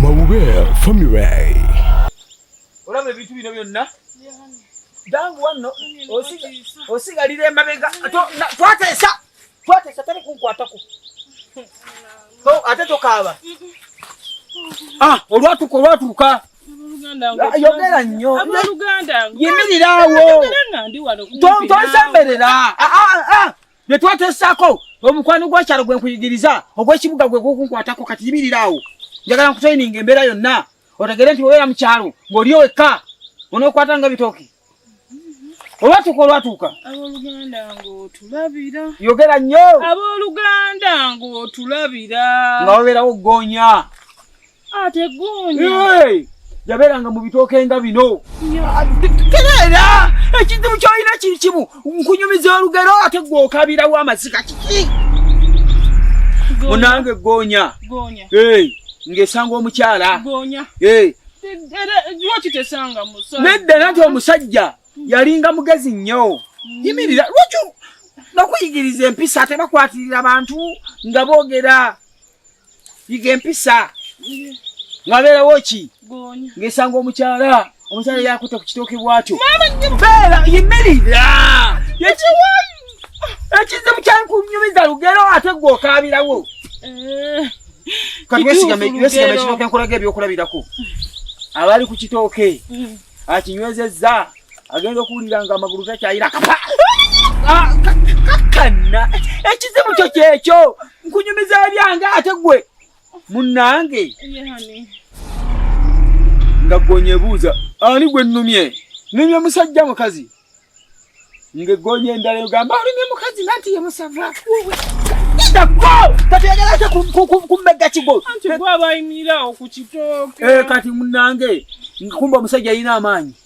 Mawube family. Olaba ebintu bino byonna dangu wanno osigalira emabega twateesa twateesa tali kunkwatako ate tokaaba ah, olwatuka olwatuka yogera nnyo yimirirawo tosemberera bye twateesaako omukwano gwakyalo gwe nkuyigiriza ogw'ekibuga gwe gwokunkwatako kati yibirira awo njagala nkutrayininga embeera yonna otegere nti obeera mu kyalo ng'oli owekka onookwata nga bitooke olwatuuka olwatuuka aboluganda ngaotulabira yogera nnyo aboluganda ngaotulabira nga wabeerawo ggoonya ate gunya yabeeranga mu bitooke nga bino tereera ekizibu kyolina kiri kimu nkunyumiza olugero ate gwe okabirawo amaziga kiki munange goonya ng'esanga omukyala nedda nanti omusajja yalinga mugezi nnyo mm. yimirira lwaki nokuyigiriza empisa tebakwatirira bantu nga boogera yiga empisa ngabeerawo ki ngesanga omukyala omukyala yakuta ku kitooke bwatyo beera yimirira ekize mukyankunyumiza lugero ate gwe okaabirawo eh, kati wesigame ekitooke nkulaga ebyokulabirako abali ku kitooke mm. akinywezezza agenda okuwulira nga amagulu gakyayira kapa ah, kakkanna ekizibu kyo kyekyo nkunyumiza ebyange ate gwe munnange nga gonyebuuza ani gwe nnumye numye musajja mukazi nga eggoonya endala egamba olumye mukazi nanti ye musava tategerate kummegga kigo eh, kati munange kumba omusajja yalina amaanyi